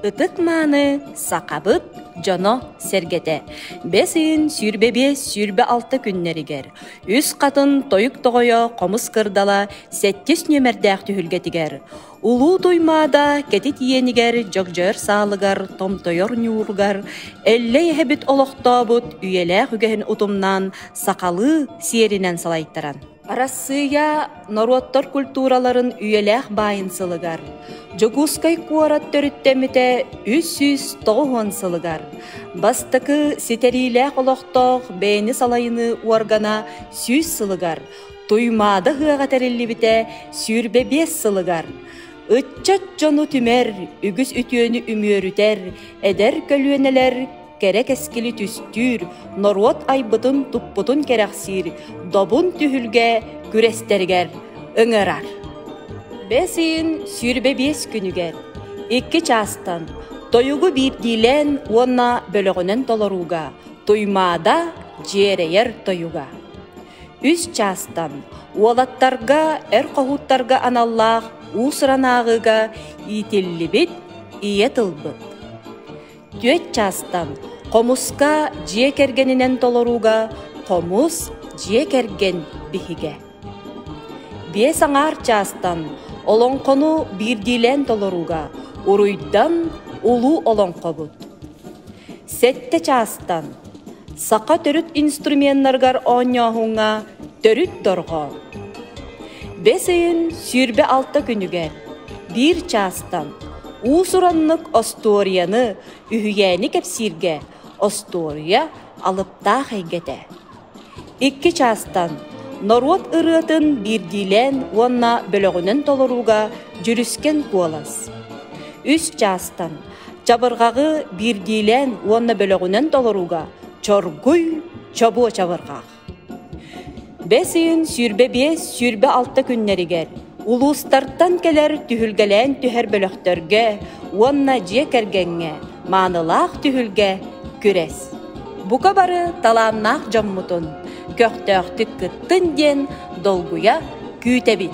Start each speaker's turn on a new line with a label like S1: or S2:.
S1: Ытык-мааны сахабыт дьоно сэргэтэ бэс ыйын сүүрбэ биэс сүүрбэ алта күннэригэр үс хатын тойук тоҕойо хомус кырдала сэттис нүөмэрдээх түһүлгэтигэр улуу Туймаада кэтит иэнигэр дьогдьойор саалыгар томтойор ньууругар эллэй эһэбит олохтообут үйэлээх үгэһин утумнаан сахалыы сиэринэн салайтаран Арассыыйа норуоттар культураларын үйэлээх баайын сылыгар, Дьокуускай куорат төрүттэммитэ үс сүүс тоҕус уон сылыгар, бастакы ситэриилээх олохтоох бэйэни салайыныы уоргана сүүс сылыгар, Туймаада ыһыаҕа тэриллибитэ сүүрбэ биэс сылыгар, ыччат дьону түмэр, үгүс үтүөнү үмүөрүтэр эдэр көлүөнэлэр кэрэ кэскили түстүүр, норуот айбытын-туппутун кэрэхсиир добун түһүлгэ күрэстэригэр ыҥырар. Бэс ыйын сүүрбэ биэс күнүгэр икки чаастан тойугу биирдиилээн уонна бөлөҕүнэн толорууга Туймаада дьиэрэйэр тойуга. Үс чаастан уолаттарга эр хоһууттарга аналлаах уус-ранааҕыга иитиллибит ийэ тылбыт. Түөрт чаастан хомуска дьиэ кэргэнинэн толорууга хомус дьиэ кэргэн биһигэ. Биэс аҥаар чаастан олоҥхону биирдиилээн толорууга уруйдан улуу олоҥхобут. Сэттэ чаастан саха төрүт инструменнарыгар оонньооһуҥҥа төрүт дорҕо. Бэс ыйын сүүрбэ алта күнүгэр биир чаастан Уус-ураннык остуоруйаны, үһүйээни кэпсииргэ остуоруйа алыптаах эйгэтэ. Икки чаастан норуот ырыатын биирдиилээн уонна бөлөҕүнэн толорууга Дьүрүскэн куолас. Үс чаастан чабырҕаҕы биирдиилээн уонна бөлөҕүнэн толорууга Чоргуй Чобуо чабырҕах. Бэс ыйын сүүрбэ биэс, сүүрбэ алта күннэригэр улуустартан кэлэр түһүлгэлээн түһэр бөлөхтөргө уонна дьиэ кэргэҥҥэ маанылаах түһүлгэ күрэс. Бука бары талааннаах дьоммутун көхтөөхтүк кыттын диэн долгуйа күүтэбит.